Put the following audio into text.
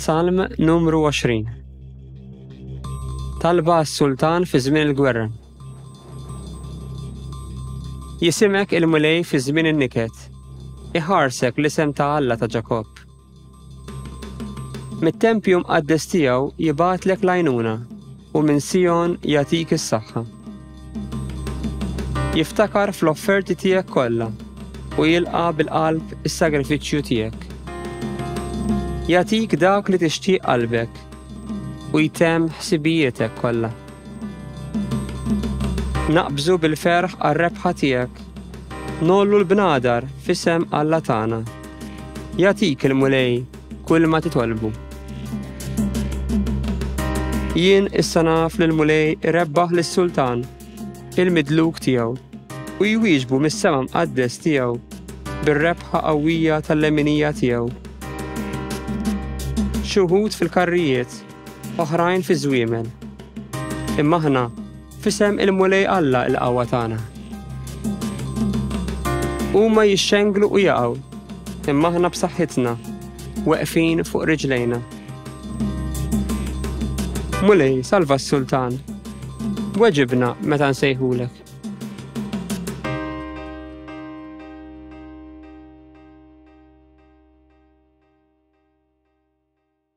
Salm numru 20 Talba għas-sultan fi żmien il-gwerra. Jisimek il-mulej fi żmien in-niket. Iħarsek l-isem ta' Alla ta' Ġakob. Mit-tempju mqaddes tiegħu jibatlek lajnuna u minn Sijon jagħtik is-saħħa. Jiftakar fl-offerti tiegħek kollha u jilqa' bil-qalb is-sagrifiċċju tiegħek. Jagħtik dak li tixtieq qalbek u jtemm ħsibijietek kollha. Naqbżu bil-ferħ għar-rebħa tiegħek. Nollu l-bnadar fisem Alla tagħna. Jatik il-mulej kull ma titolbu. Jien issa naf li l-Mulej rebbaħ lis-Sultan, il-midluk tiegħu, u jwieġbu mis-sema mqaddes tiegħu bir-rebħa qawwija tal-leminija tiegħu. Xi wħud fil-karrijiet, oħrajn fiż-żwiemel. Imma aħna Fisem il-Mulej Alla il-qawwa tagħna. Huma jixxenglu u jaqgħu, imma aħna b'saħħitna, weqfin fuq riġlejna. Mulej, salva s-sultan. Weġibna meta nsejħulek.